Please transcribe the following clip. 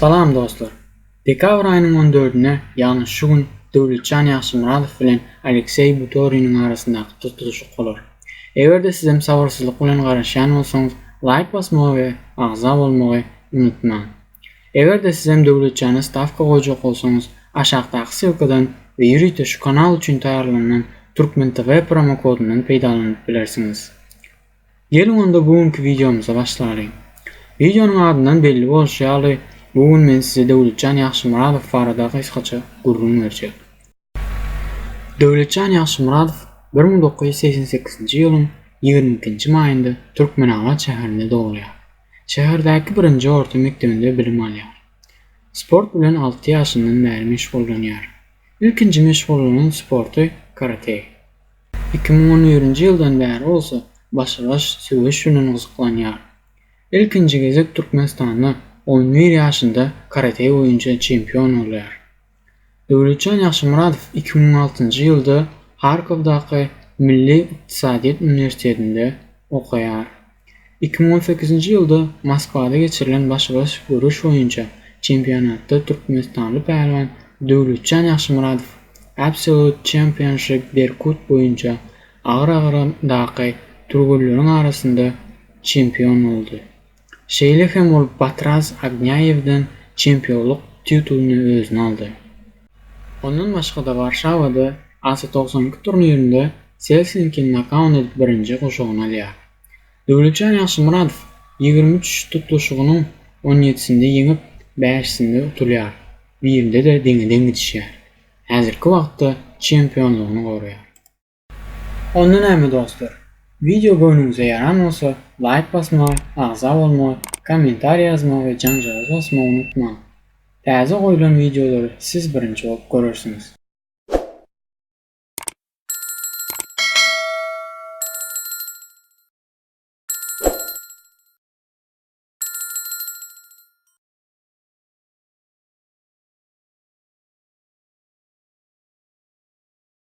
Salam dostlar! Dekabr aýynyň on dördüne, ýagny şu gün Döwletjan Ýagşymyradow bilen Alekseý Butoriniň arasyndaky tutluşyk bolar. Eger-de sizem sabyrsyzlyk bilen garaşýan bolsaňyz, laýk basmagy we agza bolmagy unutmaň! Eger-de sizem Döwletjana stawka goýjak bolsaňyz, aşakdaky ssylkadan we ýörite şu kanal üçin taýýarlanan Turkmen TV promokodundan peýdalanyp bilersiňiz. Geliň onda bu günki wideomyza başlalyň. Wideonyň adyndan belli bolşy ýaly bu gün men size Döwletjan Ýagşymyradow barada gysgaça gürrüň berjek. Döwletjan Ýagşymyradow bir müň dokuz ýüz segsen sekizinji ýylyň ýigrimi ikinji maýynda Türkmenabat şäherinde dogulýar. Şäherdäki birinji orta mekdebinde bilim alýar. Sport bilen alty ýaşyndan bäri meşgullanýar. Ilkinji meşgullanan sporty karate. Iki müň on birinji ýyldan bäri bolsa başa-baş söweş bilen gyzyklanýar. Ilkinji gezek Türkmenistanda on bir ýaşynda karate boýunça çempion bolýar. Döwletjan Ýagşymyradow iki müň altynjy ýylda Harkowdaky Milli ykdysadyýet uniwersitetinde okaýar. Iki müň on sekizinji ýylda Moskwada geçirilen başybaş göreş boýunça çempionatda türkmenistanly pälwan Döwletjan Ýagşymyradow Absolute Championship Berkut boýunça agyr agramdaky türgenleriň arasynda çempion boldy. Şeýle hem ol Batraz Agnaýewden çempionlyk titulyny özüne aldy. Ondan başga-da Warşawada AS togsan iki turnirinde Selsinki nokaun edip birinji guşagyny alýar. Döwletjan Ýagşymyradow ýigrimi üç tutluşygynyň on ýedisinde ýeňip, bäşisinde utulýar, birinde-de deňe-deň gidişýär. Häzirki wagtda çempionlygyny goraýar. Onda näme dostlar, wideo göwnüňize ýaran bolsa laýk basmagy, agza bolmagy, kommentariý ýazmagy we janjagaz basmagy unutmaň. Täze goýlan wideolary siz birinji bolup görersiňiz.